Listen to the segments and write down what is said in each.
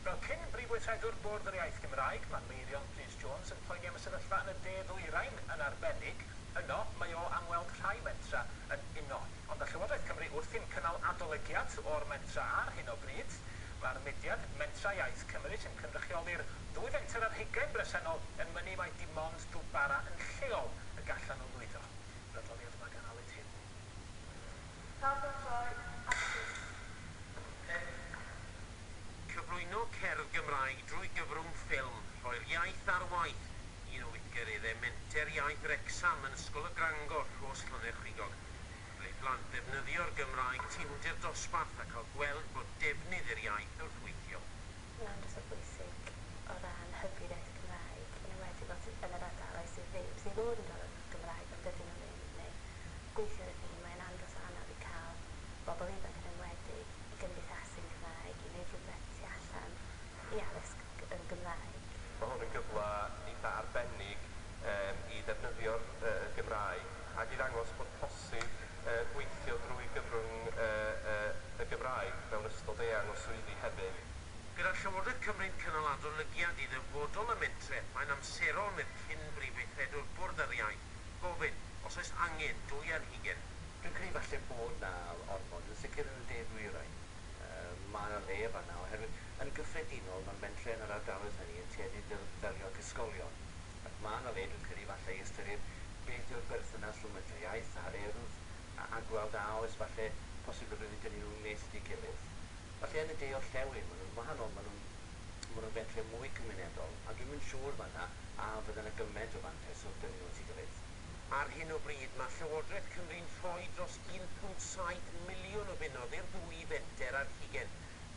Fel cyn Brif Weithredwr Bwrdd yr Iaith Gymraeg, mae Meirion Prys Jones yn poeni am y sefyllfa yn y De Ddwyrain yn arbennig. Yno, mae o am weld rhai mentra yn uno. Ond â Llywodraeth Cymru wrthi'n cynnal adolygiad o'r mentra ar hyn o bryd, mae'r mudiad Mentrau Iaith Cymru sy'n cynrychioli'r ddwy fenter ar hugain bresennol yn mynnu mai dim ond dŵr bara yn lleol y gallan nhw lwyddo. Yr adroddiad yma gan Aled Huw. Paratoi Artist Cymru. Cyflwyno cerdd Gymraeg drwy gyfrwng ffilm, rhoi'r iaith ar waith, un o weithgareddau Menter Iaith Wrecsam yn Ysgol y Grangor, Rhos Llwne'r-chwigog. Cyfle i blant ddefnyddio'r Gymraeg tu hwnt i'r dosbarth a cael gweld bod defnydd i'r iaith wrth weithio. Mae'n drysor bwysig o ran hybu'r iaith Gymraeg, yn enwedig fel sydd yn yr ardaloedd sydd ddim, sydd fod yn dal yn Gymraeg ond dydyn nhw ddim. neu gweithio i'r un, mae'n andros o anodd i cael bobl ifanc yn enwedig i gymdeithasu yn Gymraeg, i wneud rhywbeth tu allan i addysg yn Gymraeg. Mae hwn yn gyfle eitha' arbennig i ddefnyddio'r Gymraeg ac i ddangos bod posib gweithio drwy gyfrwng y Gymraeg mewn ystod eang o swyddi hefyd. Gyda Llywodraeth Cymru'n cynnal adolygiad i ddyfodol y mentrau, mae'n amserol, medd cyn-Brif Weithredwr Bwrdd yr Iau, gofyn os oes angen dwy ar hugen. Dwi'n credu falle bod 'na ormod, yn sicr yn y de ddwyrain. Yym, ma' 'na le fan'na oherwydd yn gyffredinol ma' mentre yn yr ardaloedd hynny yn tueddu i ddel- ddelio ac ysgolion. Ac ma' 'na le, dwi'n credu, falle i ystyried beth yw'r berthynas rhwng mentre iaith a'r Urdd a a gweld a oes falle posibilrwydd i dynnu nhw'n nes at ei gilydd. Falle yn y de orllewin ma' nhw'n wahanol, ma' nhw'n Mae rhywbeth lle mwy cymunedol, a dwi'm yn siŵr fan'na a fydda 'na gymaint o fantais wrth gynnwys y gilydd. Ar hyn o bryd, mae Llywodraeth Cymru'n rhoi dros 1.7 miliwn o bunnoedd i'r ddwy fenter ar hugen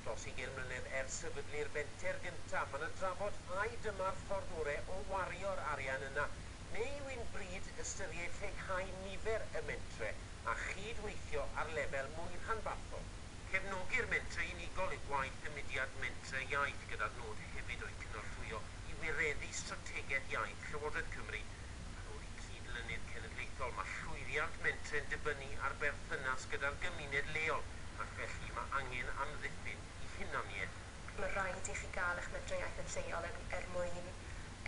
dros ugen mlynedd ers sefydlu'r fenter gyntaf. Mae 'na drafod ai dyma'r ffordd ore' o wario'r arian yna, neu yw hi'n bryd ystyried lleihau nifer y mentre a chyd-weithio ar lefel mwy rhanbarthol? Cefnogi'r mentrau unigol yw gwaith y mudiad Mentrau Iaith gyda'r nod hefyd o'u cynorthwyo i wireddu strategaeth iaith Llywodraeth Cymru yn ôl i cyd-lynydd cenedlaethol. Mae llwyddiant mentrau'n dibynnu ar berthynas gyda'r gymuned leol ac felly mae angen amddiffyn i hunaniaeth. Mae rhaid i chi gael eich mentrau iaith yn lleol er er mwyn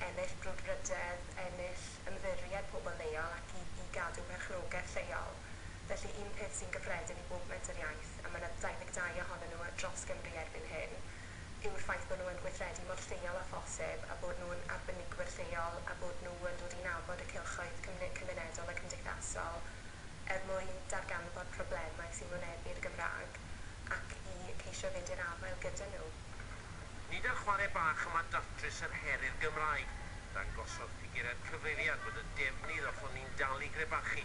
ennill brwdfrydedd, ennill ymddiried pobl leol ac i i gadw perchnogaeth lleol. Felly, un peth sy'n gyffredin i bob Menter Iaith, a mae 'na 22 ohonyn nhw dros Gymru erbyn hyn, yw'r ffaith bod nhw yn gweithredu mor lleol â phosib, a bod nhw'n arbenigwyr lleol, a bod nhw yn dod i nabod y cylchoedd cymunedol a cymdeithasol er mwyn darganfod problemau sy'n wynebu'r Gymraeg ac i ceisio fynd i'r afael gyda nhw. Nid ar chwarae bach y mae datrys yr her i'r Gymraeg. Dangosodd ffigurau'r cyfeiriad bod y defnydd ohoni'n dal i grebachu